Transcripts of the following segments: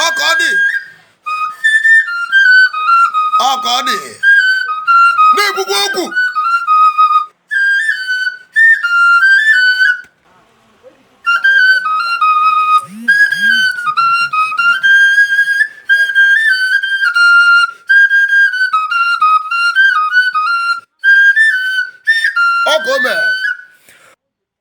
ọka ọ dị ọka ọ dị na-ekwukwa okwu ọka ome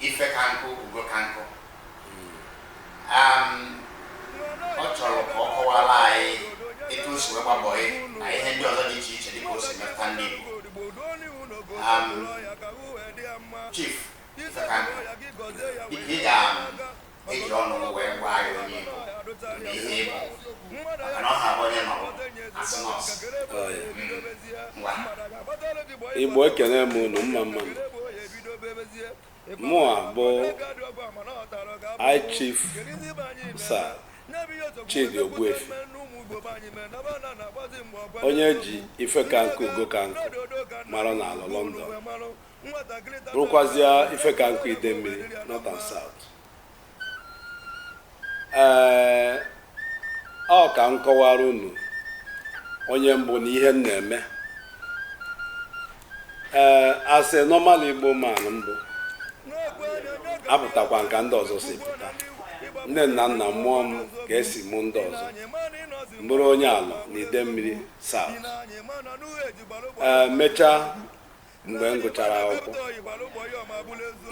ife ka nkụ ugo ka nkụ Am, ọ chọrọ ka ọ kọwara anyị etu o si wee gbaa bọị na ihe ndị ọzọ dị iche iche dịka o si metụta ndị Igbo Am, Chief ife ka nkụ dịka ị ga eji ọnụ wee gwa anyị onye ị bụ na ihe ị bụ maka na ọ ha bụ onye nọ asị nọọsụ ngwa Igbo ekene m unu mma mma nụ. mụa bụ High Chief Sir Chidi Ogbuefi onye e ji ife ka nkụ ugo ka nkụ mara n'Alor London bụrụkwazịa ife ka nkụ Idemili North and South ee ọ ka m kọwara unu onye m bụ na ihe m na-eme ee as a normal Igbo man m bụ apụtakwa m ka ndị ọzọ si pụta nne na nna mụọ m ka e si mụ ndị ọzọ m bụrụ onye Alor na Idemili South ee mechaa mgbe m gụchara akwụkwọ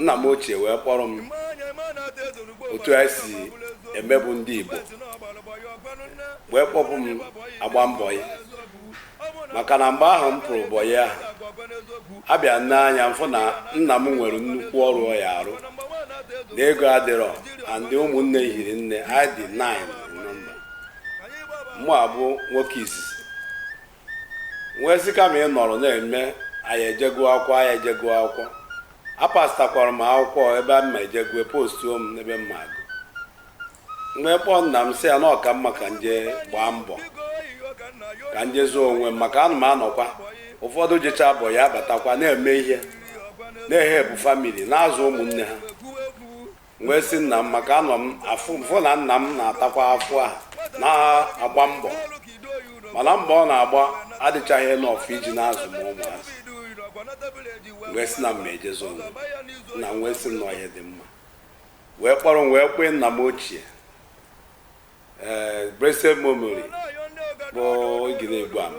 nna m ochie wee kpọrọ m otu anyị si emebu ndị Igbo wee kpọpụ m ịgba bọị maka na mgbe ahụ m pụrụ bọị ahụ abịa nee anya m fụ na nna m nwere nnukwu ọrụ ọ ya-arụ na ego adịrọ and ụmụnne hiri nne anyị dị 9 nọmba mụ abụ nwoke izizi m wee sị kama ị nọrọ na-eme a ya-eje gụọ akwụkwọ a ya-eje gụọ akwụkwọ apasịtakwara m akwụkwọ ebe m ma-eje gụọ postuo m n'ebe m ma-agụ m wee kpọọ nna m sị ya na ọ ka mma ka m je gbaa mbọ ka m je zọọ onwe m maka ana m anọkwa ụfọdụ jechaa bọị abatakwa na-eme ihe na-ehelpụ family na-azụ ụmụnne ha wee sị nna m maka anọ m afụ m fụ na nna m na-atakwa afụfụ na-agba mbọ mana mbọ ọ na-agba adịchaghị enough iji na-azụ ụmụazị m wee sị na m ma-eje zọọ onwe m. nna m wee sị m na ọ ihe dị mma wee kpọrọ m wee kwee nna m ochie ee blessed memory bụ igiri egwu ama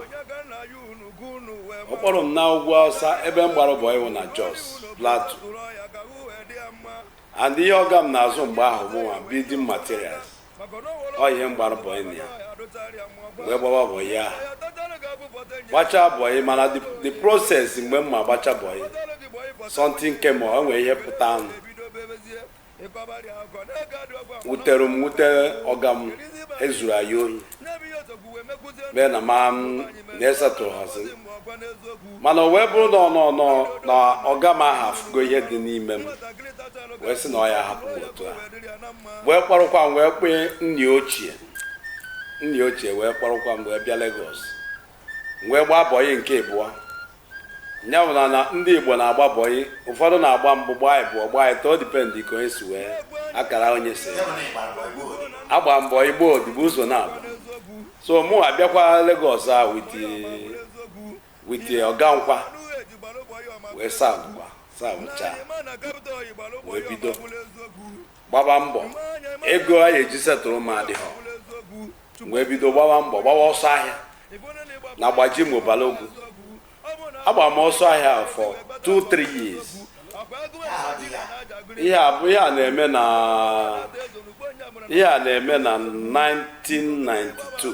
ọ kpọrọ m na ugwu awụsa ebe m gbara bọyị wụ na jos plateau and ihe ọga m na-azụ mgbe ahụ bụ nwa building materials ọ ihe m gbara bọyị na ya wee gbaba bọyị ahụ gbachaa bọyị mana the- the process mgbe m ma gbacha bọyị something came o nwere ihe pụtanụ wutere m wute ọga m e zuru anyị ohi mee na ma m na-esetụrụ hazi mana o wee bụrụ na ọ nọ nọ na ọga m ahụ afụgo ihe dị n'ime m wee sị na ọ ya hapụ m otu a wee kpọrọkwa m wee kpee nna ochie nna ochie wee kpọrọkwa m wee bịa Lagos wee gbaa bọyị nke ịbụọ ya bụ na na ndị igbo na-agba bọyị ụfọdụ na-agba mbụ gbaa ịbụọ gbaa ịtọ ọ dipendị ka onye si wee akara onye si agba m bọyị ịgba odibo ụzọ naabọ so mụ abịakwa Lagos a with ọga m kwa wee sa savụcha wee bido gbaba mbọ ego a ya-eji setụrụ m adịghọ wee bido gbaba mbọ gbawa ọsọ ahịa na Gbajumo Balogun agba m ọsọ ahịa for 2-3 years ihe a bụ ihe a na-eme na ihe a na-eme na 1992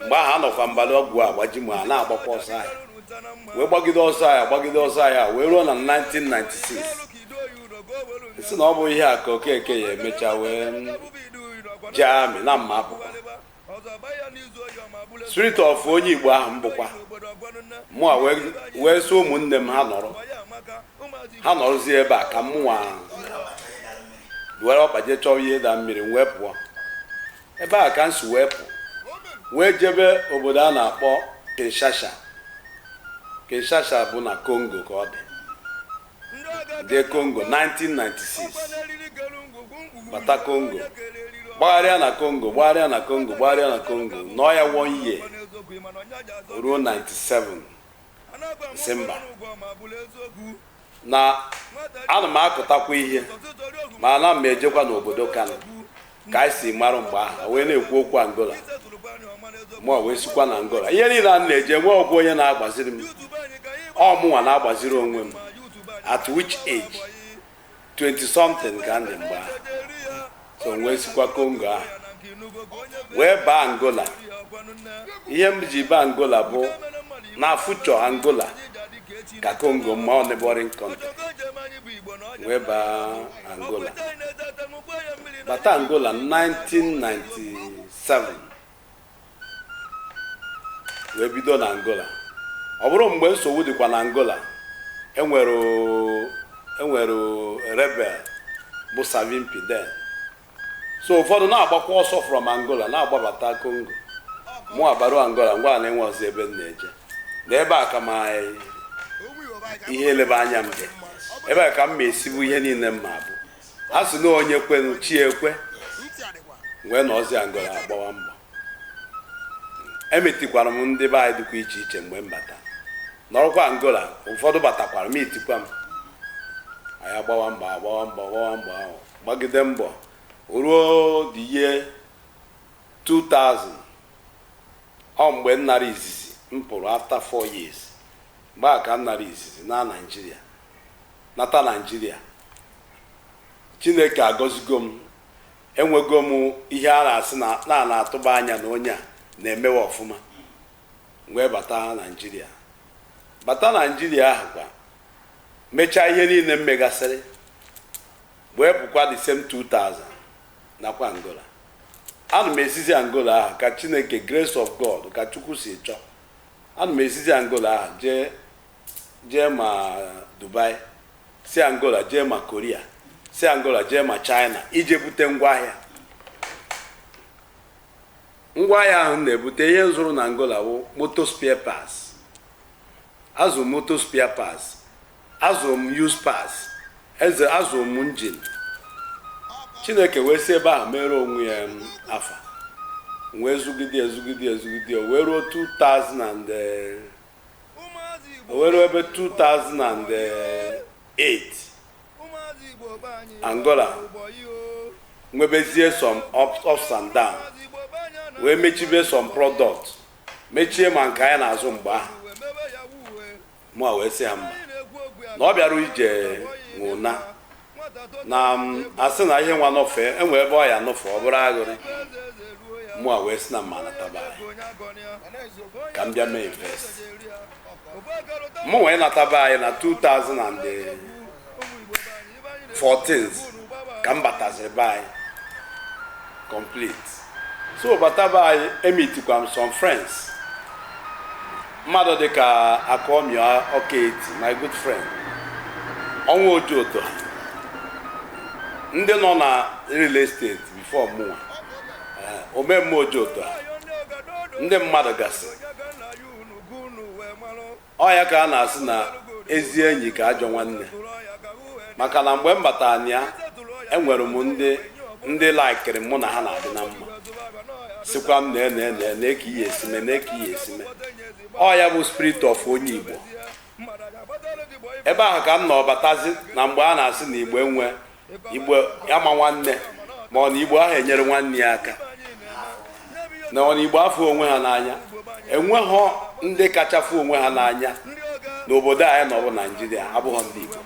mgbe ahụ anọkwa m Balogun Gbajumo a na-agbakwa ọsọ ahịa wee gbagide ọsọ ahịa gbagide ọsọ ahịa wee ruo na 1996 sị na ọ bụ ihe a ka okeke ya-emecha wee jee amị na mma apụkwa spirit of onye igbo ahụ m bụkwa mụnwa wee sị ụmụnne m ha nọrọ ha nọrọzie ebe a ka mụnwa were ọkpa jee chọọ ihe dara mmiri m wee pụọ Ebe a ka m si wee pụ wee jebe obodo a na-akpọ Kinshasa Kinshasa bụ na Kongo ka ọ dị jee Kongo 1996 bata Kongo gbagharịa na Kongo gbagharịa na Kongo gbagharịa na Kongo nọọ ya one year ruo 97 December na ana m akụtakwa ihe ma ana m ejekwa n'obodo Kano ka anyị si mara mgbe ahụ wee na-ekwu okwu Angola mụa wee sikwa na Angola ihe niile a na-eje enweghọkwu onye na-agbaziri m ọ mụnwa na-agbaziri onwe m at which age 20 something ka m dị mgbe ahụ so wee sikwa kongo ahụ wee baa angola ihe m ji baa angola bụ na future angola ka kongo mma ọ neighboring country wee baa angola bata angola 1997 wee bido na Angola ọ bụrụ mgbe nsogbu dịkwa na Angola e nwere e nwere rebel bụ Savimbi then so ụfọdụ na-agbakwa ọsọ from Angola na-agbabata Congo mụ abaru Angola ngwa na enwezi ebe m na-eje na ebe a ka ma ihe elebe anya m dị ebe a ka m ma esi bụ ihe niile m ma abụ a sị na onye kwenu chi ekwe wee nọzi angola agbawa mbọ emeetikwara m ndị be anyị dịkwa iche iche mgbe m bata nọrọkwa angola ụfọdụ batakwara meetikwa m anyị agbawa mbọ agbawa mbọ agbawa mbọ ahụ gbagide mbọ ruo the year 2000 ọ mgbe m nara izizi m pụrụ after 4 years mgbe ahụ ka m nara izizi na naijiria nata naijiria chineke agọzigo m enwego m ihe a na-asị na na na-atụba anya na onye a na-emewe ọfụma wee bata naijiria bata naijiria ahụ kwa mechaa ihe niile m megasịrị wee pụkwa the same 2000 nakwa angola ana m esizi angola ahụ ka chineke grace of god ka chukwu si chọọ ana m esizi angola ahụ jee jee ma Dubai si Angola jee ma Korea si Angola jee ma China ije bute ngwaahịa ngwaahịa ahụ m na-ebute ihe m zụrụ na Angola bụ motor spare parts azụ m motor spare parts azụ m used parts azụ m engine Chineke wee si ebe ahụ mere onwe ya um, afa wee zụgide zụgide zụgide wee ruo 2000 and eh, o wee ruo ebe 2008 angola nwebezie some ups and down wee mechibe some product mechie ma nke anyị na-azụ mgbe ahụ mụ wee sị ya mba na ọ bịara ije nwe ụna na a sị na ihe nwa nọfe enwe ebe ọ ya nọfe ọ bụrụ aghụrị mụwa wee sị na m ma anata be anyị ka m bịa mee invest mụ wee nata be anyị na 2014 ka m bataziri be anyị complete so bata be anyị emitikwa m some friends mmadụ dịka akọmia ọkaeti my good friend ọnwa ojoto ndị nọ na real estate before mụnwa eh, omemma ojoto ndị mmadụ gasị ọ ya ka a na-asị na ezi enyi ka ajọ nwanne maka na mgbe m batara na ya enwere m ndị ndị laikiri mụ na ha na-adị na mma sịkwa m nee nee nee nee ka ihe esi eme nee ka ihe esi eme ọ ya bụ spirit of onye igbo ebe ahụ ka m nọ batazi na mgbe a na-asị na igbo enwe igbo ama nwanne ma ọ na igbo ahụ enyere nwanne ya aka na ọ na igbo afụ onwe ha n'anya enweghọ ndị kachafụ onwe ha n'anya n'obodo anyị nọ bụ naijiria abụghọ ndị igbo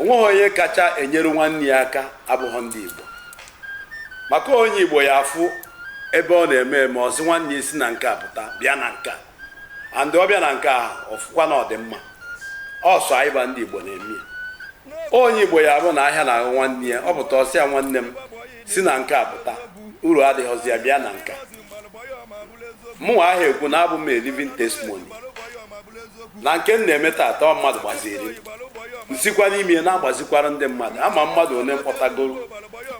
onweghị onye kacha enyere nwanne ya aka abụghọ ndị igbo maka onye igbo ya afụ ebe ọ na-eme eme ọ sị nwanne si na nke a pụta bịa na nke a and ọ bịa na nke a ọ fụkwa na ọ dị mma ọ sọ anyị bụ ndị igbo na-eme ya onye igbo ya bụ na ahịa na ahụ nwanne ya ọ pụta ọ sị ya nwanne m si na nke a pụta uru adịghịzi ya bịa na nke a mụnwa ahụ ekwu na abụ m a living testimony na nke m na-eme tata ọ mmadụ gbaziri m sikwa n'ime ya na-agbazikwara ndị mmadụ ama m mmadụ ole m kpọtagoro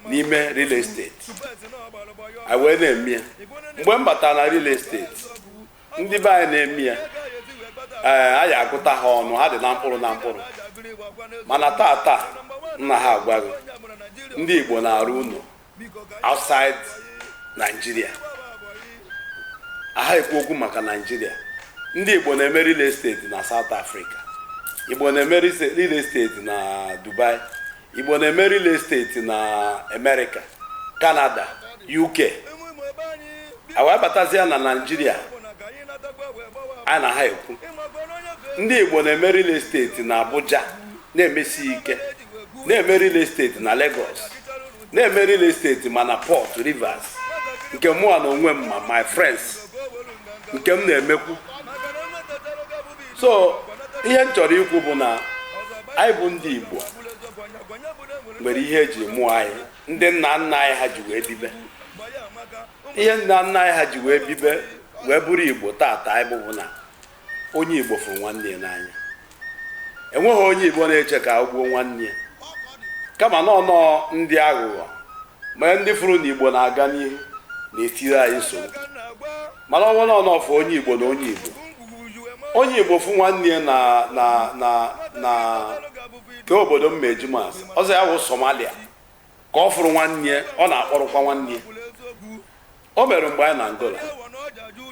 n'ime real estate anyị wee na-eme ya mgbe m batara na real estate ndị be anyị na-eme ya ee a ya agụta ha ọnụ ha dị na mkpụrụ na mkpụrụ mana taa taa m na ha agwa ghị ndị igbo na-arụ ụlọ outside Nigeria aha ekwu okwu maka Nigeria ndị igbo na-eme real estate na South Africa igbo na-eme real estate na Dubai Igbo na-eme real estate na Amerịka, Kanada, UK wee batazia na Naịjirịa a na ha ekwu ndị Igbo na-eme real estate na Abuja na-emesi ike na-eme real estate na Lagos na-eme real estate ma na Port Rivers nke mụnwa na onwe m ma my friends nke m na-emekwu so ihe m chọrọ ikwu bụ na anyị bụ ndị Igbo nwere ihe eji mụọ anyị ndị nna nna anyị ha ji wee bibe ihe nna nna anyị ha ji wee bibe wee bụrụ Igbo tata anyị bụ bụ na onye Igbo fụrụ nwanne ya n'anya enweghị onye Igbo na-eche ka o gbuo nwanne ya kama na ọ nnọọ ndị aghụghọ Mgbe ndị fụrụ na Igbo na-aga n'ihu na-etiri anyị nsogbu mana ọ bụrụ na ọ fụ onye Igbo na onye Igbo onye Igbo fụ nwanne ya na na na na ke obodo mma eji m asị ọ sị ya wụ Somalia ka ọ fụrụ nwanne ya ọ na-akpọrọkwa nwanne ya o mere mgbe anyị na Angola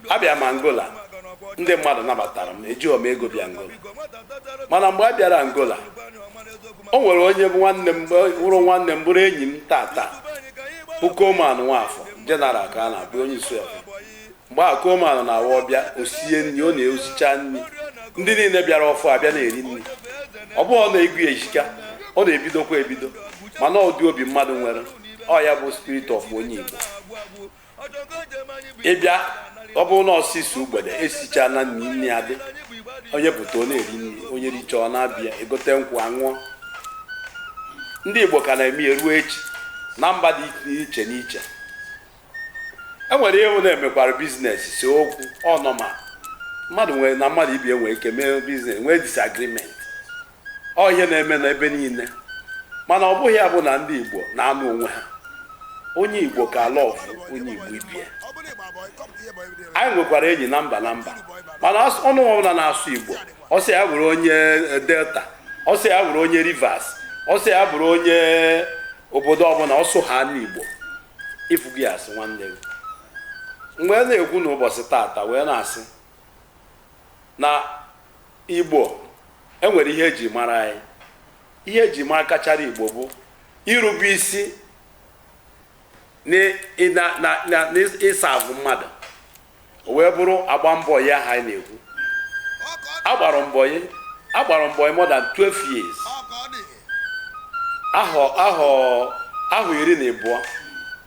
abịa m Angola ndị mmadụ nabatara m ejighọ m ego bịa Angola mana mgbe a bịara Angola o nwere onye bụ nwanne m wụrụ nwanne m bụrụ enyi m tata bụ Coleman Nwafọ General ka a na-abụ onye isi ọha mgbe a Coleman na-awa ọbịa o sie nri ọ na-esicha nri ndị niile bịara ọfụụ abịa na-eri nri ọ bụghị ọ na ego ya ehika ọ na-ebidokwa ebido mana ụdị obi mmadụ nwere ọ ya bụ spirit of onye igbo ị bịa ọ bụrụ na ọsịsọ ugbede esicha na nri nri adị onye pụta ọ na-eri nri onye richa ọ na-abịa egote nkwụ aṅụọ ndị igbo ka na-eme ya ruo echi na mba dị iche n'iche e nwere ike na-emekwara business see okwu ọ normal mmadụ nwere na mmadụ ibe ya nwe ike mee business nwee disagreement ọ ihe na-eme na ebe niile mana ọ bụghị ya bụ na ndị igbo na-anụ onwe ha onye igbo ka love onye igbo ibe ya anyị nwekwara enyi na mba na mba mana as- ọnụ ọbụla na-asụ igbo ọ sị ya bụrụ onye eh, delta ọ sị ya bụrụ onye rivers ọ sị ya bụrụ onye obodo ọbụla ọ sụhana igbo ị fụ gị asị nwanne gị mgbe a na-ekwu n'ụbọchị tata wee na-asị na Igbo, e nwere ihe eji mara anyị. Ihe eji mara kachara Igbo bụ irube isi na ị serve mmadụ. O wee bụrụ agba m bọyị ahụ anyị na-ekwu. Agbara m bọyị agbara m bọyị more than 12 years. Ahọ ahọ ahọ iri na ịbụọ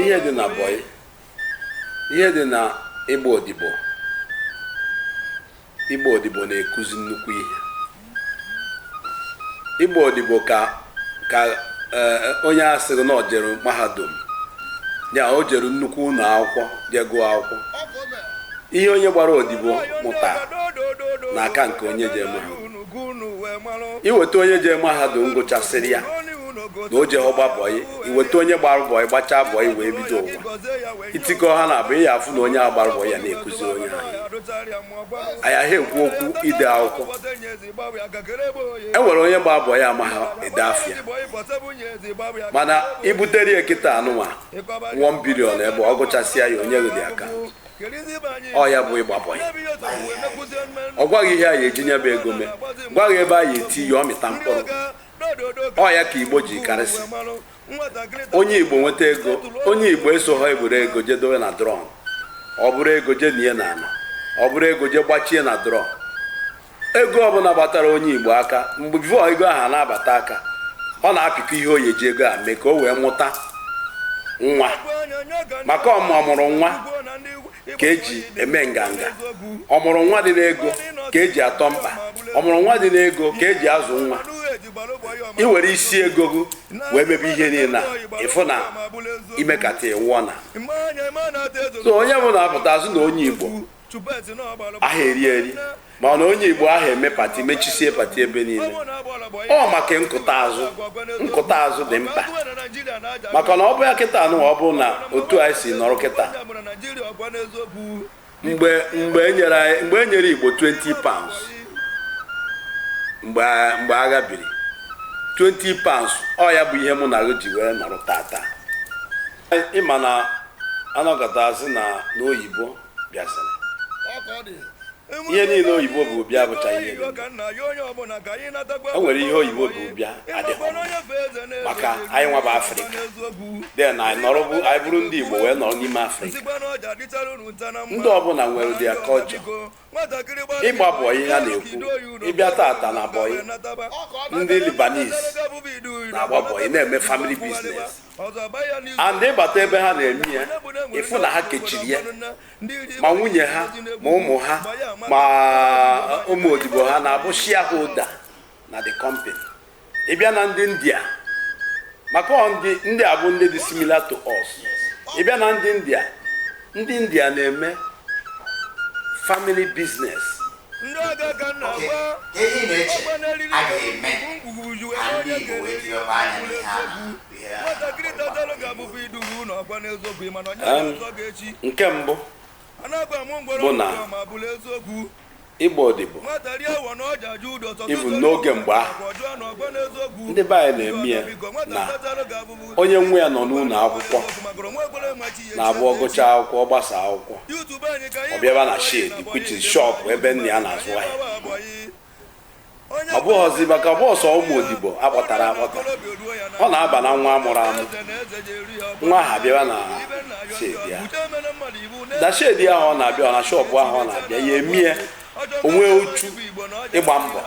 ihe dị na bọyị ihe dị na ịgba odibo ịgba odibo na-ekuzi nnukwu ihe ịgba odibo ka ka eh, onye a sịrị na o jere mahadum ya o jere nnukwu ụlọ akwụkwọ je gụọ akwụkwọ ihe onye gbara odibo mụta na-aka nke onye je mahadum i weta onye je mahadum gụchasịrị ya na o jehọ gba bọyị i weta onye gbara bọyị gbachaa bọyị wee bido ụwa itikọ ha n'abụọ ị ya-afụ na onye gbara bọyị na-akụziri onye ahụ anyị aha ekwu okwu ide akwụkwọ e nwere onye gbara bọyị amaha ede afa ya mana i butere ya kịta anụnwa 1 billion ebe ọ gụchasịa ya ọ nye gị aka ọ ya bụ ịgba bọyị ọ gwa gị ihe a ya-eji nya bụ ego mee gwa gị ebe a ya-eti ya ọ mịta mkpụrụ ọ ya ka igbo ji karịsị onye igbo nweta ego onye igbo esoho eburu ego je dowe na drum o buru ego je nie na ana o buru ego je gbachie na drum ego ọbụla gbatara onye igbo aka mgbe before ego ahụ na-abata aka ọ na-apịkọ ihe ọ ya-eji ego a mee ka o wee mụta nwa maka ọmụrụ nwa ka eji eme nganga ọmụrụ nwa dị n'ego ka eji atọ mkpa ọmụrụ nwa dị n'ego ka eji azụ nwa ị were isi ego gị wee mebe ihe niile a ị fụ na i mekata ịwụọ na so onye bụ na-apụta azụ na onye igbo aha eri eri ma na onye igbo aha eme pati mechisie pati ebe niile ọ maka nkụta azụ nkụta azụ dị mkpa maka na ọ bụ ya kịta nwa ọ bụ na otu anyị si nọrọ kịta mgbe mgbe enyere anyị mgbe enyere igbo 20 pounds mgbe mgbe agha biri 20 pounds ọ ya bụ ihe mụ na gị ji wee nọrọ tata ị ma na a nọkata a sị na n'oyibo bịasịrị ihe niile oyibo bu bịa bụcha ihe o nwere ihe oyibo bu bịa adịghị maka anyịnwa bụ afrịka then anyị nọrọ bụ anyị bụrụ ndị igbo wee nọrọ n'ime afrịka ndị ọbụla nwere ụdị a culture ịgba bọyị ihe a na-ekwu ị bịa tata na bọyị ndị Lebanese na-agba bọyị na-eme family business and ị bata ebe ha na-eme ya ị fụ na ha kechiri ya ma nwunye ha ma ụmụ ha ma uh, ụmụ odibo ha na-abụ shareholder na the company ị bịa na ndị india maka ndị a bụ ndị dị similar to us ị bịa na ndị india ndị india na-eme family business oke ihe ị na-eche a ga-eme ka ndị Igbo wee jiri ọba anya n'ihe a nke mbụ bụ na ịgba odibo ibu n'oge mgbe ahụ ndị be anyị na-eme ya na onye nwe ya nọ n'ụnọ akwụkwọ na-abụ ọ gụchaa akwụkwọ ọ gbasa akwụkwọ ọ bịaba na shed which is shop ebe nna ya na-azụ ahịa ọ bụghịzi maka boys ụmụ odibo akpọtara akpọta ọ na-aba na nwa amụrụ amụ nwa aha bịaba na shed ya na shed ahụ ọ na-abịa ọ na shop ahụ ọ na-abịa ya emie o nwee uchu ịgba mbọ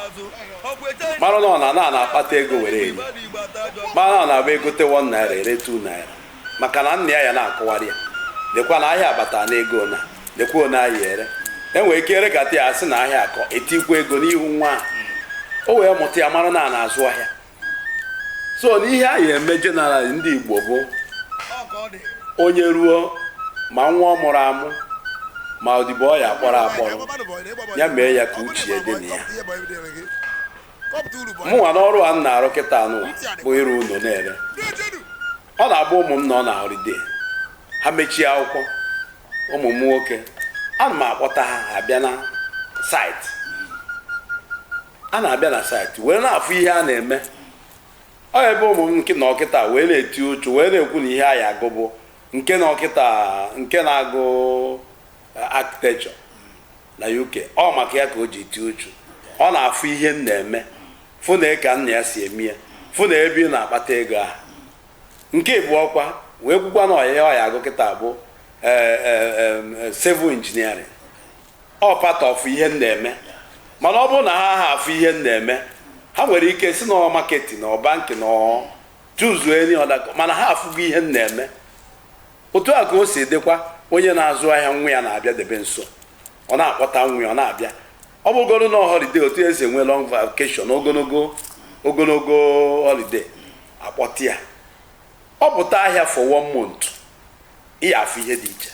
mara na ọ na na akpata ego were eri mara na ọ na-abụ egote 1 naira ere 2 naira maka na nna ya ya na-akọwara ya lekwa na ahịa abata na ego na lekwa one a ya ere enwere ike erekata ya asị na ahịa akọ etikwa ego n'ihu nwa ahụ. o wee mụta ya mara na a na-azụ ahịa so na ihe anyị eme general ndị igbo bụ onye ruo ma nwa ọ mụrụ amụ ma odibo ọ ya akpọrọ akpọrọ ya mee ya ka uche ya dị na ya mụnwa n'ọrụ a m na-arụ kịtaa nụ bụ ịrụ ụlọ na-ere ọ na-abụ ụmụ m nọ na holiday ha mechie akwụkwọ ụmụ m nwoke ana m akpọta ha abịa na site a na-abịa na site wee na-afụ ihe a na-eme ọ ebe ụmụ m nke nọ kịta wee na-eti uchu wee na-ekwu na ihe ha ya agụ bụ nke nọ kịta nke na-agụ eh, architecture na UK ọ maka ya ka o ji eti uchu ọ na-afụ ihe m na-eme fụ na ka nna ya si eme ya fụ na ebe ị na-akpata ego ahụ nke bụ ọkwa wee kwukwa na ihe ọ ya agụ kịta bụ eh, eh, eh, civil engineering ọ part of ihe m na-eme mana ọ bụrụ na ha ha afụ ihe m na-eme ha nwere ike sị na marketing na banking na chuzuo any other course mana ha afụgo ihe m na-eme otu a ka o si dịkwa onye na-azụ ahịa nwa ya na-abịa debe nso ọ na-akpọta nwa ya ọ na-abịa ọ bụrụgodu na holiday otu esi enwe long vacation ogologo holiday akpọta ya ọ pụta ahịa for one month ị ya afụ ihe dị iche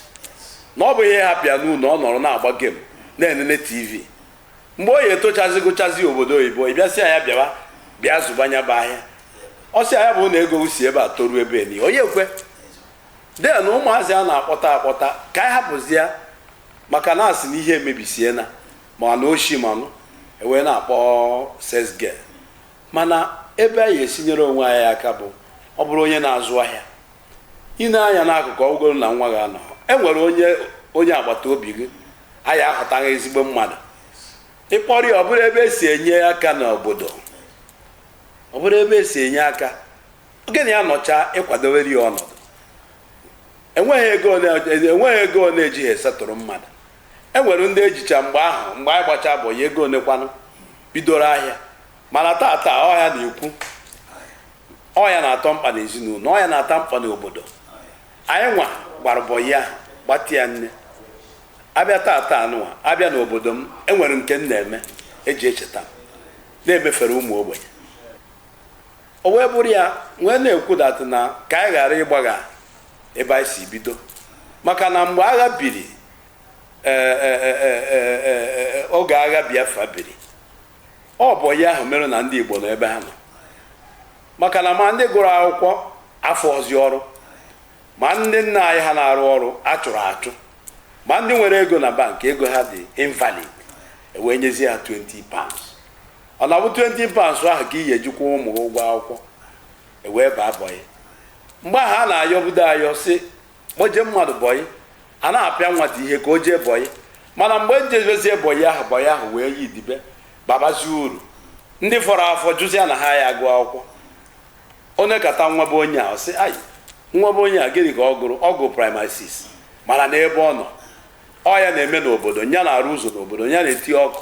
na ọ bụghị ị hapụ ya n'ụlọ ọ nọrọ na-agba game na-enene tv mgbe ọ ya etochazi gụchazi obodo oyibo ị bịa sị ya bịa bịa zụba nya bụ ahịa ọ sị ya bụ na ego si ebe a toruo ebe ni onye ekwe then ụmụazị a na-akpọta akpọta ka anyị hapụzi ya maka na asị na ihe emebisie na ma na oshi manụ ewee na-akpọ sales girl mana ebe anyị esinyere onwe anyị aka bụ ọ bụrụ onye na-azụ ahịa i nee anya n'akụkụ ọ bụgodu na nwa gị anọ e nwere onye agbata obi gị a ya ahọtara gị ezigbo mmadụ ị kpọrọ ya ọ bụrụ ebe esi enye aka n'obodo ọ bụrụ ebe esi enye aka oge na ya nọcha ị kwadowere ya ọnọdụ enweghị ego ole ejighị esettle mmadụ e nwere ndị ejicha mgbe ahụ mgbe anyị gbacha boy ego ole kwanụ bidoro ahịa mana taa taa ọ ya na-ekwu ọ ya na-atọ mkpa n'ezinụlọ ọ ya na-atọ mkpa n'obodo anyị nwa gbara bọyị a gbati ya nne abịa taata anụwa abịa n'obodo m enwere nke m na-eme eji echeta m na-emefere ụmụ ogbenye o wee bụrụ ya nwee na-ekwu datụ na ka anyị ghara ịgbagha ebe anyị si bido maka na mgbe agha biri e, e, e, oge agha Biafra biri ọ bụ ya ahụ mere na ndị Igbo nọ ebe ha nọ maka na ma ndị gụrụ akwụkwọ afụọzị ọrụ ma ndị nna anyị ha na-arụ ọrụ a chụrụ achụ ma ndị nwere ego na bank ego ha dị invalid ewee nyezie ha 20 pounds ọ na-abụ 20 pounds ahụ ka ị ya eji kwụọ ụmụ ụgwọ akwụkwọ ewee baa bọyị mgbe ahụ a na-ayọbudo ayọ si kpọje mmadụ bọyị a na-apịa nwata ihe ka o jee bọyị mana mgbe m jebezie bọyị ahụ bọyị ahụ wee yi dibe babazie uru ndị fọrọ afọ jụzia na ha ya agụ akwụkwọ onye kata nwa be onye a ọ sị ayi nwa be onye a gịnị ka ọ gụrụ ọ gụrụ primary 6 mana n'ebe ọ nọ ọ ya na-eme n'obodo ya na-arụ ụzọ n'obodo ya na-eti ọkụ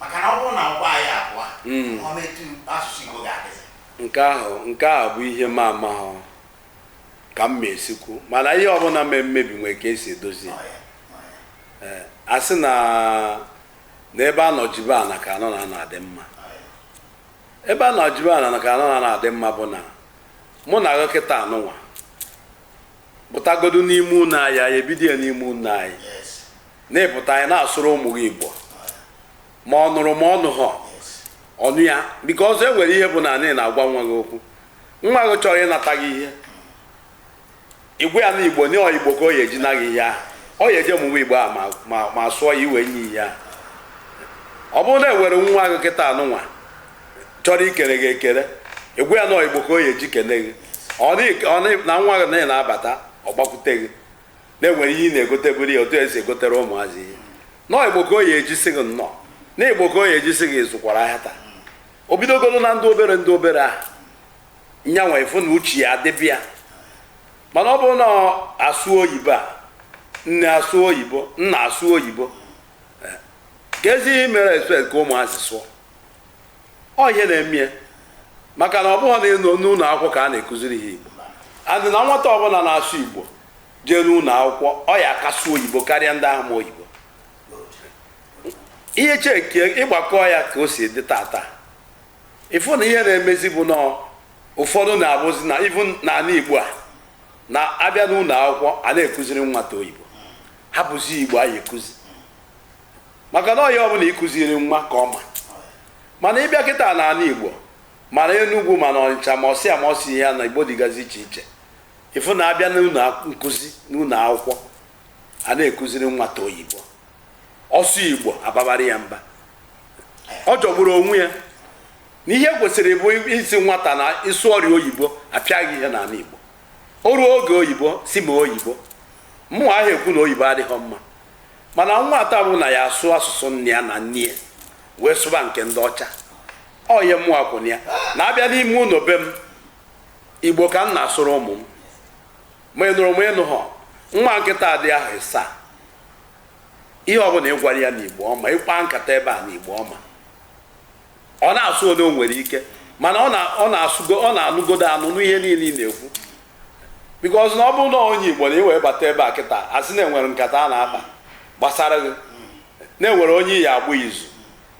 maka na ọ bụrụ na ọgbọ anyị agwụ Mm. o nwetụ asụsụ Igbo ga-adịzi nke ahụ nke a bụ ihe m amaghọ ka m ma esi kwu mana ihe ọbụla mee mmebi nwere ka esi edozi ya. Ọ ya, ọ ya. Ee, a sị na n'ebe a nọ jibe ana ka a nọ na ana adị mma ebe a nọ jibe ana na ka a nọ na ana adị mma bụ na mụ na gị kịta anụnwa pụtagodu n'ime ụlọ anyị anyị ebido ya n'ime ụlọ anyị na ị pụta na ị na-asụrụ ụmụ gị igbo ma ọ nụrụ ma ọ nụghọ ọ nụ ya because e nwere ihe bụ na ị na-agwa nwa gị okwu nwa gị chọrọ ịnata gị ihe ị gwa ya na igbo na ọ igbo ka ọ ya eji na gị ihe ahụ ọ ya eje mụwa igbo a ma sụọ ya i wee nye ya ihe ahụ ọ bụrụ na e nwere nwa gị kịta anụnwa chọrọ ikene gị ekene ị gwa ya na ọ igbo ka o ya eji kene gị na nwa gị na ị na-abata ọ gbakwute gị na e nwere ihe ị na-egoteburu ya otu esi egotere ụmụazị ihe na ọ igbo ka o ya eji sị gị nnọọ na ọ igbo ka o ya eji sị gị ị zụkwara ahịa taa o bidogoro na ndị obere ndị obere ahụ nyanwa ị fụ na uche ya adịbe ya mana ọ bụrụ na a sụọ oyibo a nne asụọ oyibo nna asụọ oyibo eh, keezi ihe mere expect ka ụmụazị sụọ ọ ihe na-eme ya maka na ọ bụghị na n'ụlọ akwụkwọ ka a na-ekụziri ha igbo and na nwata ọbụla na-asụ igbo jee n'ụlọ akwụkwọ ọ ya aka asụ oyibo karịa ndị ahụ ma oyibo ihe check ị gbakọọ ya ka o si dị tata ị fụ na ihe na-emezi bụ na ụfọdụ na-abụzi na even n'ala igbo a na a bịa n'ụlọ akwụkwọ a na-ekụziri nwata oyibo hapụzi igbo a ya ekụzi maka na ọ ya bụ na ịkụziri nwa ka ọ ma mana ịbịa kịta n'ala igbo ma na enugwu ma na ọnịcha ma ọsịa ma ọsị ihe na igbo dịgazi iche iche ịfụ na abịa n'ụlọ nkụzi n'ụlọ akwụkwọ a na-ekụziri nwata oyibo ọ sụọ igbo ababara ya mba ọ jọgburu onwe ya na ihe kwesịrị bụ ịsị nwata na ị sụọrọ oyibo apịa gị ihe n'ala igbo o ruo oge oyibo sị mee oyibo mụ aha ekwu na oyibo adịghị mma mana nwata bụ na ya asụ asụsụ nna ya na nne ya wee sụba nke ndị ọcha ọ ihe mụwa kwụ na ya na abịa n'ime ụlọ be m igbo ka m na-asụrụ ụmụ m ma ị nụrụ ma ị nụhọ nwa nke nta dị ahọ ịsaa ihe ọbụla ị gwara ya n'igbo ọ ma ị kpaa nkata ebe a n'igbo ọ ma ọ na-asụ onye o nwere ike mana ọ na- ọ na-asụgo ọ na-anụgodo anụ nụ ihe niile ị na-ekwu because na ọ bụrụ na onye igbo na i wee bata ebe a kịta asị na enwere nkata a na-akpa gbasara gị na enwere onye ị ya agba izu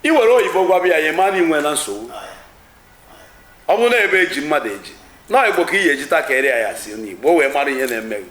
i were oyibo gwaba ya ya ma na i nwena nsogbu ọ bụrụ na ebe eji mmadụ eji na onye igbo ka ị ya ejita ka eri ya si n'igbo o wee mara ihe na-eme gị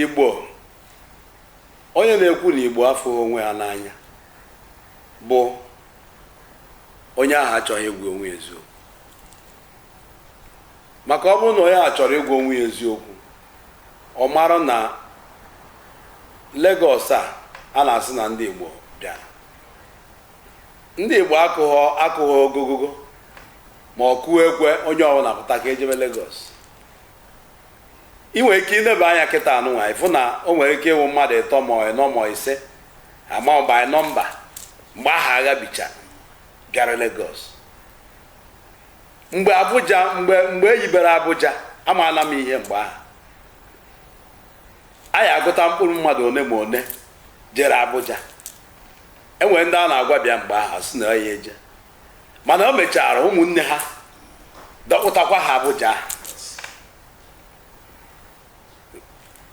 Igbo onye na-ekwu na Igbo afụghị onwe ha n'anya bụ onye ahụ achọghị ịgwa onwe ya eziokwu maka ọ bụrụ na onye ahụ chọrọ ịgwa onwe ya eziokwu ọ mara na Lagos a a na-asị na ndị Igbo bịara ndị Igbo akụghọ akụghọ ogogogo ma ọ kụọ ekwe onye ọbụla pụta ka ejebe Lagos ị nwere ike ineba anya kịta anụnwa ịfụ na o nwere ike ịwụ mmadụ ịtọ ma ịnọ ma ise ama by nọmba mgbe ahụ agha bicha bịara Lagos mgbe Abuja mgbe mgbe eyibere Abuja amaala m ihe mgbe ahụ a ya agụta mkpụrụ mmadụ one ma one jere Abuja enwere ndị a na-agwa bịa mgbe ahụ sị na ya eje mana o mechara ụmụnne ha dọkpụtakwa ha Abuja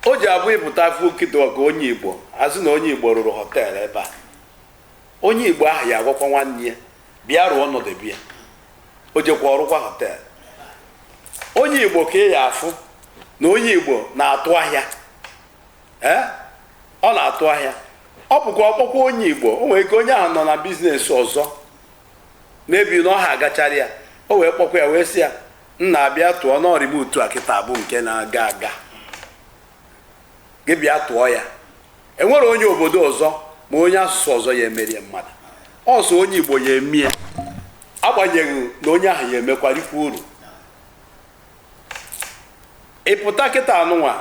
o ji abụ ị pụta afọ kịta ka onye Igbo asị na onye Igbo rụrụ họteelụ ebe a onye Igbo ahụ ya agwakwa nwanne ya bịa rụọ ọ nọdụ ebe a o jekwa ọ rụkwa họteelụ onye Igbo ka ị ya afụ na onye Igbo na-atụ ahịa ee ọ na-atụ ahịa ọ bụkwa ọ kpọkwa onye igbo o nwere ike onye ahụ nọ na biznes ọzọ maybe na ọ ha agachara ya o wee kpọkwa ya wee sị ya nna bịa tụọ n'ọrịba utu a kịta bụ nke na-aga aga gị bịa tụọ ya enwere onye obodo ọzọ ma onye asụsụ ọzọ ya emere ya mmadụ ọ sọ onye igbo ya eme ya agbanyeghị na onye ahụ ya emekwa rikwu uru ị pụta kịta anụnwa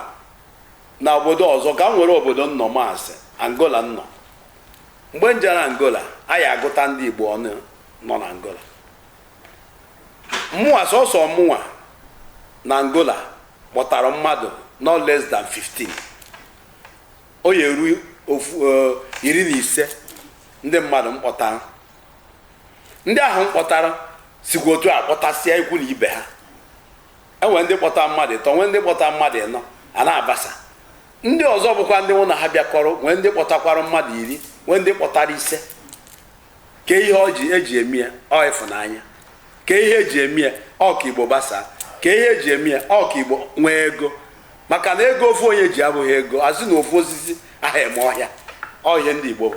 na obodo ọzọ ka m were obodo m nọ ma a sị angola m nọ mgbe m jere angola a ya agụta ndị igbo ọnụ nọ na angola mụnwa sọsọ mụnwa na angola kpọtara mmadụ no less than 15 ọ ya eru ofu eh, iri na ise ndị mmadụ m kpọtara ndị ahụ m kpọtara sikwa otu a kpọtasịa ikwu na ibe ha enwere ndị kpọta mmadụ ịtọ nwee ndị kpọta mmadụ ịnọ a na-agbasa ndị ọzọ bụkwa ndị mụ na ha bịakọrọ nwee ndị kpọtakwara mmadụ iri nwee ndị kpọtara ise kee ihe eji eme ya ọ ịfụnanya kee ihe eji eme ya ọ ka igbo gbasaa kee ihe eji eme ya ọ ka igbo nwee ego maka na ego ofu onye ji abụha ego a sị na ofu osisi aha eme ọhịa ọ ihe ndị igbo bụ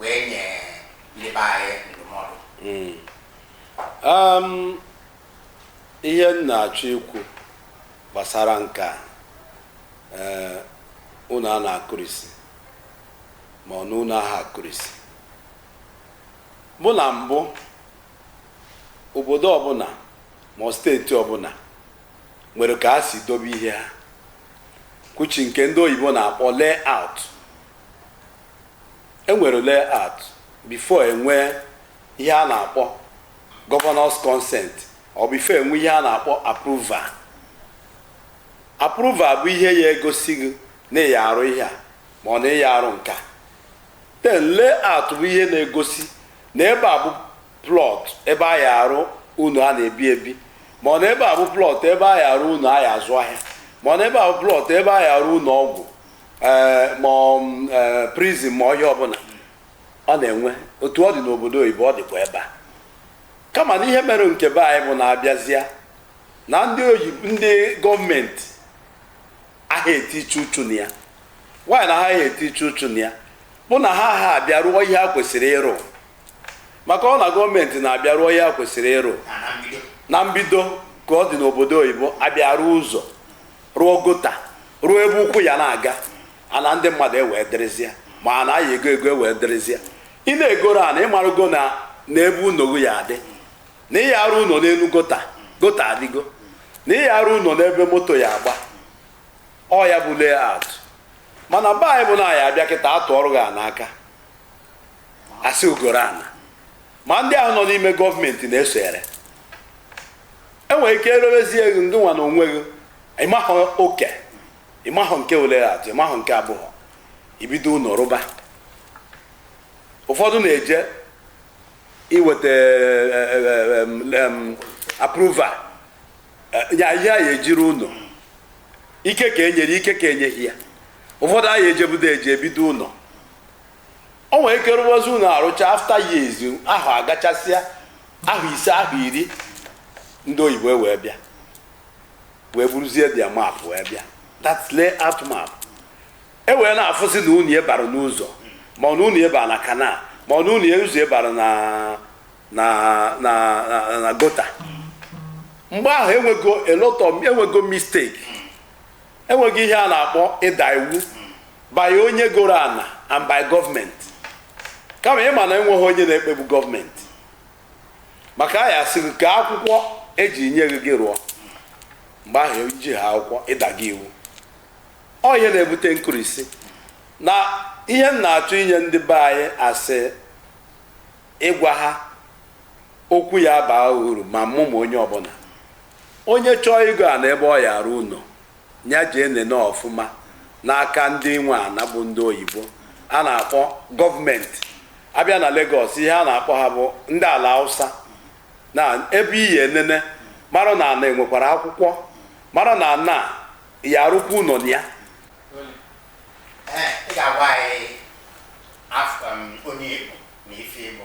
wee nye ndị be anyị ndụmọdụ hmm. um, ihe m na-achọ ikwu gbasara nke a eh, ụnọ a na-akụrisi ma ọ na ụnọ aha akụrisi bụ na mbụ obodo ọbụna ma ọ steeti ọbụna nwere ka a si dobe ihe ha kwuchi nke ndị oyibo na-akpọ layout e nwere layout before enwee ihe a na-akpọ governor's consent or before enwee ihe a na-akpọ approval approval bụ ihe ya egosi gị na ị ya arụ ihe a ma ọ na ị ya arụ nke a then layout bụ ihe na-egosi na ebe a bụ plot ebe a ya arụ ụnọ a na-ebi ebi ma ọ na ebe a bụ plot ebe a ya arụ ụnọ a ya azụ ahịa ma ọ na ebe a bụ plot ebe a ya arụ ụnọ ọgwụ ee ma ọ m, ee, prison ma ọ ihe ọbụna ọ na-enwe otu ọ dị n'obodo oyibo ọ dịkwa ebe a kama na ihe mere nke be anyị bụ na a bịazịa na ndị oyibo ndị gọọmenti aha etiche uchu na ya why na ha aha etiche uchu na ya bụ na ha aha abịa rụọ ihe ha kwesịrị ịrụ maka ọ na gọọmenti na-abịa rụọ ihe ha kwesịrị ịrụ na mbido ka ọ dị n'obodo oyibo abịa rụọ ụzọ rụọ gutter rụọ ebe ụkwụ ya na-aga ana ndị mmadụ ewee dịrịzịa ma a na-aya ego ego ewee dịrịzịa ị na-egoro ana ị marụgo na na ebe ụnọ gị ya adị na ị ya arụ ụnọ n'elu gutter gutter adịgo na ị ya arụ ụnọ n'ebe moto ya agba ọ ya bụ layout mana be anyị bụ na a ya abịa kịta a tụọrụ gị ana aka a sị gị goro ana ma ndị ahụ nọ n'ime gọọmenti na-esonyere enwere ike erewezie gị ngị nwa na onwe gị ịmahụ oke ịmahụ nke layout ịmahụ nke a bụ ibido ụnọ rụba ụfọdụ na-eje iweta approval ya ihe a ya eji rụ ụnọ ike ka enyere ike ka enyeghị ya ụfọdụ anaghị ejebudo eje ebido ụnọ O nwere ike rụwazi ụnọ arụcha after years ahụ agachasịa ahọ ise ahọ iri ndị oyibo wee bịa wee buruzie their map wee bịa that's layout map e wee na-afụzi na ụnọ ị bara n'ụzọ ma ọ na ụnọ ị bara na canal ma ọ na ụnọ ụzọ bara na na na na- na gutter mgbe ahụ enwego a lot of enwego mistake enwego ihe a na-akpọ ịda iwu by onye goro ana and by gọọmenti kama ịma na enweghị onye na-ekpegbu gọọmenti maka a ya asị gị kee akwụkwọ eji nye gị gị rụọ mgbe ahụ ijiha akwụkwọ ị dago iwu ọ ihe na-ebute nkurisi na ihe m na-achọ inye ndị be anyị asị ịgwa ha okwu ya baa uru ma mụ ma onye ọbụna Onye chọọ ịgo ana ebe ọ ya arụ ụnọ, ya jee nenee ọfụma n'aka ndị nwe ana bụ ndị oyibo a na-akpọ gọọmenti. A bịa na Lagos, ihe a na-akpọ ha bụ ndị Alausa. Na ebe i ya enene mara na ana e nwekwara akwụkwọ, mara na ana a ị ya arụkwa ụnọ na ya. Ee, ị ga-agwa anyị af- em, onye ị bụ na ife ị bụ.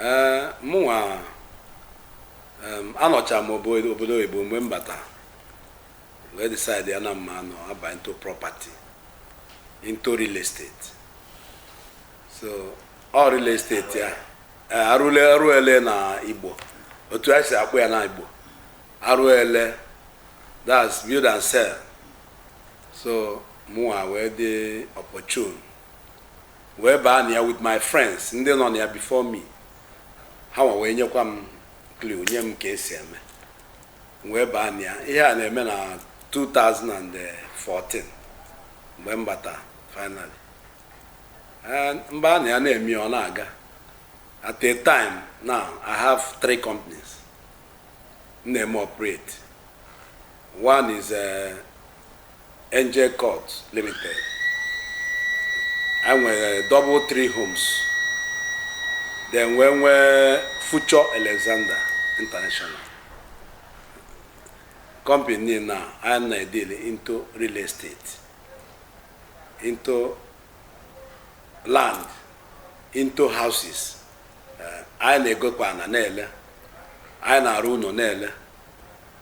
ee mụnwa em, anọchaa m obo- obodo oyibo mgbe m bata wee decide ya na mma anọ aba into property into real estate so ọ real estate ya ee, arụle arụele na igbo otu e si akpọ ya na igbo arụele that's build and sell so mụnwa wee dị opportune wee baa na ya with my friends ndị nọ na ya before me ha nwa wee nyekwa m clue nye m ka esi eme m wee baa na ya ihe a na-eme na 2014 mgbe m bata finally Eh, m baa na ya na-eme ya, ọ na-aga at a time now i have three companies m na-eme operate one is eh, Angel Court Limited. Anyị nwere double three homes. Then wee nwee Future Alexander International. Company niile a anyị na-edili into real estate, into land, into houses. Eh, Anyị na-egokwa ana na-ele. Anyị na-arụ ụnọ na-ele.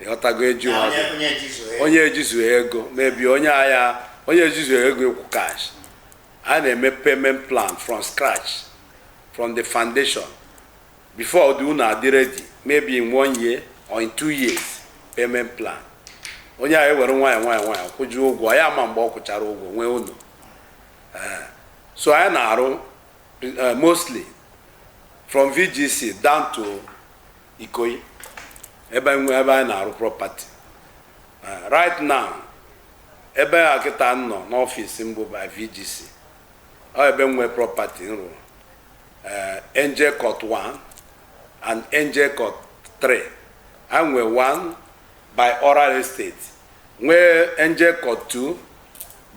ị ghọtago eju ha onye onye jizu ya onye ejizu ego maybe onye ahịa onye ejizu ego ịkwụ cash anyị na-eme payment plan from scratch from the foundation before the ụnọ adị ready maybe in one year or in two years payment plan onye ahụ ewere nwayọ nwayọ nwayọ kwụjuo ụgwọ ya ma mgbe ọ kwụchara ụgwọ nwee ụnọ Eh, so anyị na-arụ eh, mostly from VGC down to Ikoyi ebe nwe ebe anyị na-arụ property Eh, right now ebe a kịta m nọ n'ọfịs m bụ by VGC ọ ebe nwe property m rụrụ Eh, Angel Court 1 and Angel Court 3 anyị nwe 1 by Oral Estate nwee Angel Court 2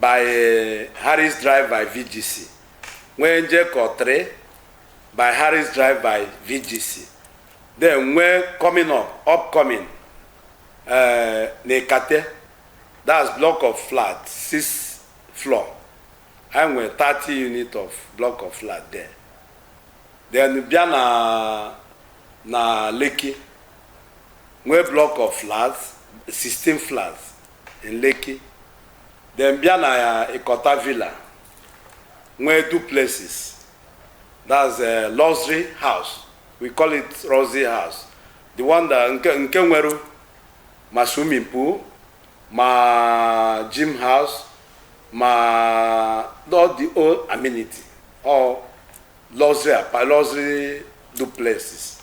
by eh, Harris Drive by VGC nwee Angel Court 3 by Harris Drive by VGC. Then when coming up, upcoming, uh, Nekate, that's block of flat, six floor. And we 30 unit of block of flat there. Then bịa na na Lekki, nwee block of flats, 16 flats in Lekki. Then bịa na Ikota Villa, nwee duplexes. that's a luxury house we call it luxury house the one that nke nke nwere ma swimming pool ma gym house ma all the whole amenity ọ luxury apa- luxury duplexes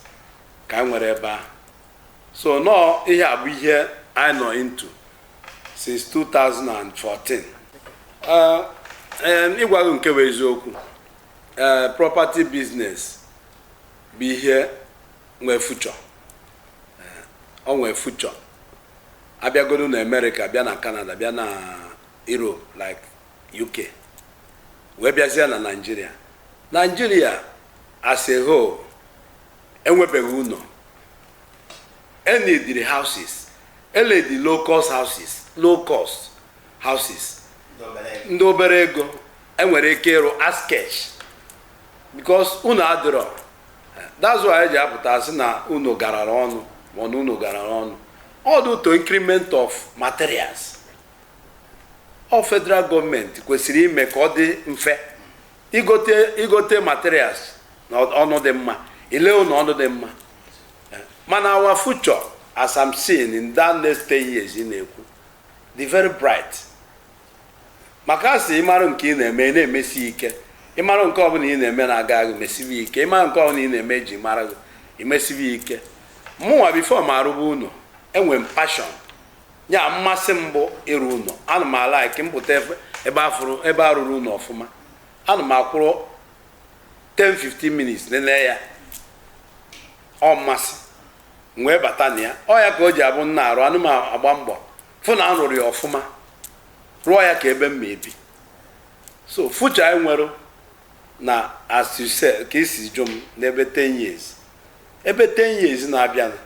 ka anyị nwere ebe a so nọọ ihe a bụ ihe anyị nọ into since 2014 uh, um, ịgwa gị nke bụ eziokwu uh, property business bụ ihe nwee future ọ nwee future a bịagodo na Amerịka bịa na Canada bịa na Europe like UK wee bịazie na Nigeria Nigeria as a whole enwebeghị ụnọ e needịrị houses e needi low cost houses low cost houses ndị obere ego e nwere ike ịrụ as cash because ụnọ adịrọ that's why e ji apụta asị na ụnọ garara ọnụ mana ụnọ garara ọnụ ọ due to increment of materials ọ federal gọọmenti kwesịrị ime ka ọ dị mfe igote igote materials na ọnụ dị mma ile ụnọ ọnụ dị mma mana our future as I'm seeing in that next 10 years ị na-ekwu dị very bright maka a sị ị mara nke ị na-eme ị na-emesi ike ị mara nke ọbụla ị na-eme na-aga gị mesibe ike ị mara nke ọbụla ị na-eme e ji mara gị i mesibe ike mụnwa before mụ arụba ụnọ enwe m passion ya mmasị m bụ ịrụ ụlọ ana m alike m pụta ebe ebe afụrụ ebe a rụrụ ụlọ ọfụma ana m akwụrụ 10-15 minutes nene ya ọ mmasị m wee bata na ya ọ ya ka o ji abụ m na-arụ ana m agba mbọ fụ na arụrụ ya ọfụma rụọ ya ka ebe m ma ebi so future anyị nwere na as you said ka i si jụ m n'ebe 10 years ebe 10 years na-abịanụ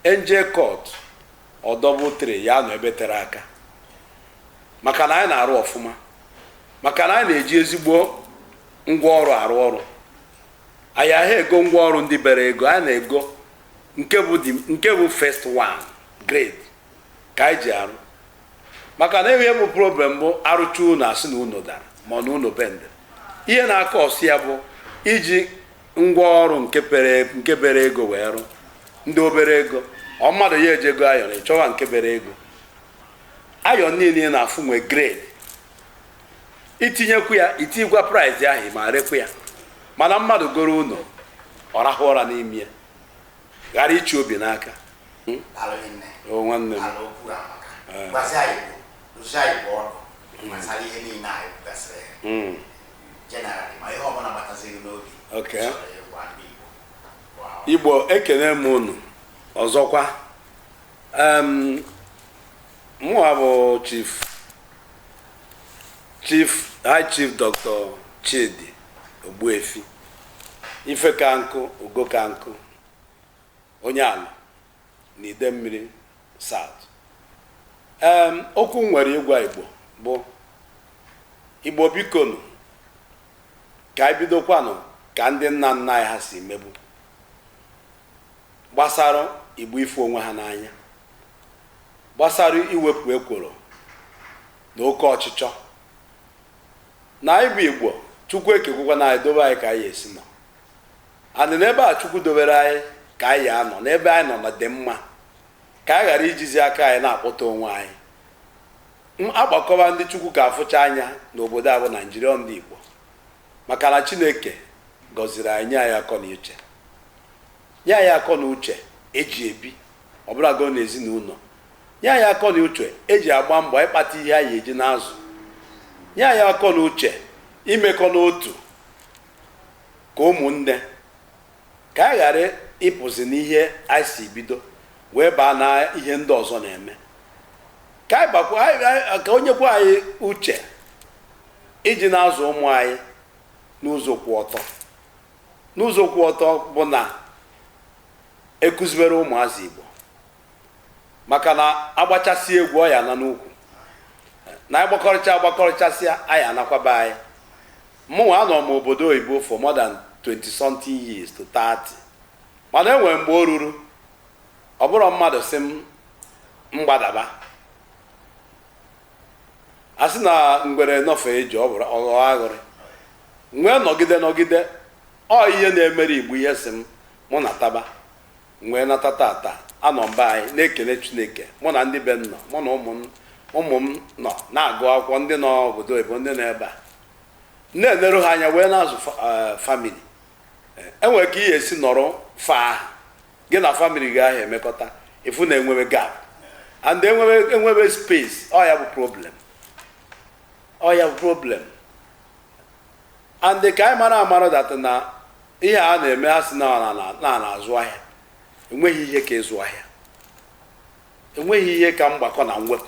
NJ Court O double 3 ya-anọ ebe tere aka maka na anyị na-arụ ọfụma maka na anyị na-eji ezigbo ngwa ọrụ arụ ọrụ anyị aha ego ngwa ọrụ ndị bere ego anyị na-ego nke bụ the- nke bụ first one grade ka anyị ji arụ maka na ihe bụ problem bụ arụcha ụlọ asị na ụlọ dara ma na ụlọ bendị ihe na-acause ya bụ iji ngwa ọrụ nke pere nke bere ego wee rụ ndị obere ego ọ mmadụ ya eje igo iron ị chọwa nke bere ego iron niile ị na-afụ nwe grade itinyekwu ya itinyekwa price ahụ ma rekwu ya mana mmadụ goro ụlọ ọ rahụ ụra n'ime ya ghara ịchị obi n'aka hmm? oh, nwanne m Igbo ekene m unu ọzọkwa mụwa bụ chief chief high chief dr chidi Ogbuefi Ifekankụ Ugokankụ onye Alor na Idemmiri South. Em, okwu m nwere ịgwa Igbo bụ Igbo bikonu ka anyị bidokwanụ ka ndị nna nna anyị ha si mebu gbasara Igbo ịfụ onwe ha n'anya gbasara iwepụ ekworo na oke ọchịchọ na anyị bụ Igbo Chukwu ekegokwanụ anyị dobe anyị ka anyị esi nọ and n'ebe a Chukwu dobere anyị ka anyị anọ n'ebe anyị nọ na-adị mma ka anyị ghara ijizi aka anyị na-akpọta onwe anyị a gbakọba ndị Chukwu ka afụcha anya n'obodo a bụ Naijiria ọ ndị Igbo maka na Chineke gọziri anyị nye anyị akọ na uche Nye anyị akọ na uche eji ebi ọbụlago n'ezinụlọ. Nye anyị akọ na uche eji agba mbọ ịkpata ihe anyị eji na-azụ. Nye anyị akọ na uche imekọ n'otu ka ụmụnne ka anyị ghara ịpụzi n'ihe anyị si bido wee baa na ihe ndị ọzọ na-eme. Ka anyị bakwa anyị- anyị- ka o nyekwa anyị uche iji na-azụ ụmụ anyị n'ụzọ kwụ ọtọ. n'ụzọ kwụ ọtọ bụ na ekuzibere ụmụazị Igbo maka na agbachasị egwu ọ ya ana n'ukwu na agbakọrịcha agbakọrịchasịa anyị anakwaba anyị mụnwa anọ m obodo oyibo for more than 20 something years to 30 mana enwere mgbe o ruru ọ bụrụ mmadụ sị m gbadaba a sị na ngwere nọfee ije ọ bụrụ ọghọ aghụrị wee nọgide nọgide ọ ihe na-emere igbo ihe sị m mụ nataba wee nata tata anọ m be anyị na-ekele chineke mụ na ndị be m nọ mụ na ụmụ m ụmụ m nọ na-agụ akwụkwọ ndị nọ obodo oyibo ndị nọ ebe a na-eneru ha anya wee na-azụ fa- eh, famili enwere ka ị ya esi nọrọ far gị na famili gị aha emekọta ị fụ na enwebe gap and enwebe enwebe space ọ ya bụ problem ọ ya bụ problem and ka anyị mara amara that na ihe a na-eme ha sị na a na-azụ ahịa enweghị ihe ka ịzụ ahịa enweghị ihe ka mgbakọ na mwepụ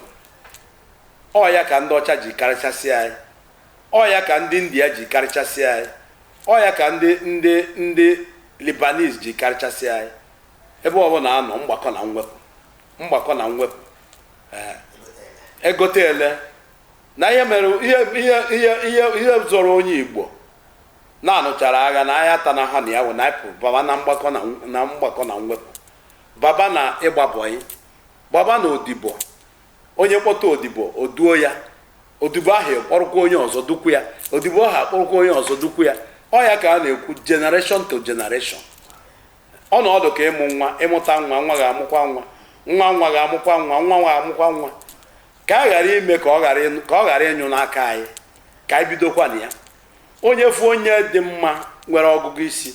ọ ya ka ndị ọcha ji karịchasịa anyị Ọ ya ka ndị India ji karịchasịa anyị. Ọ ya ka ndị ndị ndị Lebanese ji karịchasịa anyị. Ebe ọbụla a nọ mgbakọ na mwepụ mgbakọ na mwepụ ee egote ele na ihe mere ihe ihe ihe ihe ihe zọrọ onye Igbo na anụchara agha na ahịa ata na ha na ya wụ na anyị pụrụ baba na mgbakọ na na mgbakọ na mwepụ baba na ịgba bọyị baba na odibo onye kpọta odibo o duo ya odibo ahụ kpọrọkwa onye ọzọ dukwu ya odibo ahụ akpọrọkwa onye ọzọ dukwu ya ọ ya ka a na-ekwu generation to generation ọ na-adị ka ịmụ nwa ịmụta nwa nwa ga-amụkwa nwa nwa nwa ga-amụkwa nwa nwa nwa ga-amụkwa nwa ka a ghara ime ka ọ ghara ịnụ- ka ọ ghara ịnyụ n'aka anyị ka anyị bidokwa na ya onye fụ onye dị mma nwere ọgụgụ isi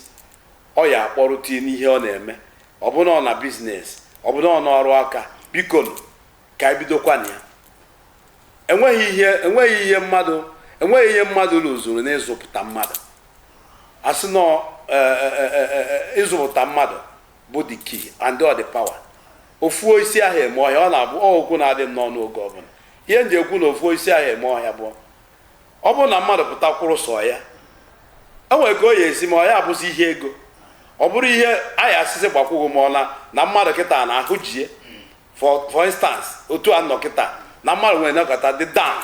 ọ ya akpọrụta n'ihe ọ na-eme ọbụna ọ na biznes ọbụna ọ na ọrụ aka biko nụ, ka anyị bidokwa na ya enweghị ihe enweghị ihe mmadụ enweghị ihe mmadụ luzuru n'ịzụpụta mmadụ asị na e, e, e, ịzụpụta mmadụ bụ the key and all the power ofu osisi aha eme ọhịa ọ na-abụ okwu na-adị m n'ọnụ oge ọbụla ihe m ji ekwu na ofu osisi aha eme ọhịa bụ ọ bụrụ na mmadụ pụta kwụrụ sọ ya enwere ka o ya esi ma ọ ya abụzi ihe ego ọ bụrụ ihe anyị asịsị gbakwụghị m ọla na mmadụ kịta na ahụ jie for instance otu a nọ kịta na mmadụ nwere nakọta dị down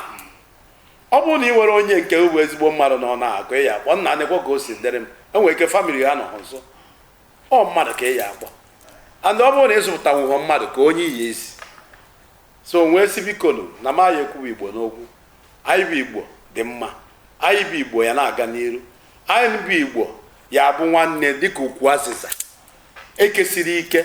ọ bụrụ na ị nwere onye nke bụ ezigbo mmadụ na ọ na-akụ ya akpọ nna nekwa ka o si dịrị m e nwere ike family ha nọ nso ọ mmadụ ka ị ya-akpọ and ọ bụrụ na ị zụpụta nwụhọ mmadụ kee onye ị ya-ezi so wee sị bikonu na m anyị ekwuwa igbo n'okwu anyị bụ igbo dị mma anyị bụ igbo ya na-aga n'iru anyị bụ igbo ya bụ nwanne dịka ukwu azịza e kesiri ike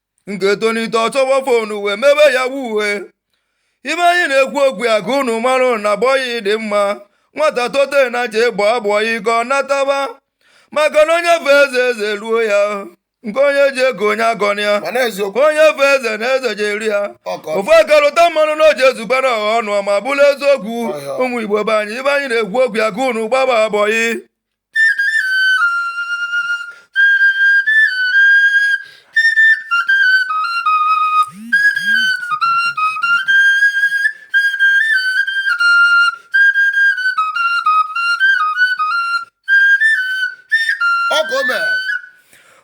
nke tonite ọ chọba phone wee mebe yahoo ife anyị na-ekwu okwu ya ka unu mara na boy dị mma nwata tote nya je gbaa boy ka ọ nataba maka na onye fee eze eze eruo ya nke onye ji eko ọnya abana ya onye fee eze na eze je-eru ya ofu aka rụta mmanụ na o je-ezukwa ọha ọnụ ma bụrụ eziokwu ụmụ igbo be anyị ife anyị na-ekwu okwu ya ka unu gbaba boy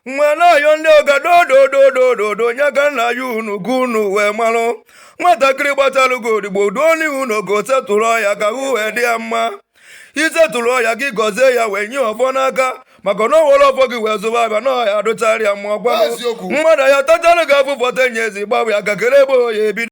nwanayo ndị ogadodododododo onye ka nna ya unu gụ unu wee malụ nwatakịrị gbatalụ gị odigbo duo n'ihu na ogo setụrụ ya ka hụ wee dị ya mma ị settle ya gị gọzie ya wee nye ọfọ n'aka maka na o were ọfọ gị wee zụba afịa na ọ ya-adịchara ya mma ọ bụ mmadụ ya-atachara gị afụfụ taa enye ezi gbawa ya aka kere ebe ọ ya-ebido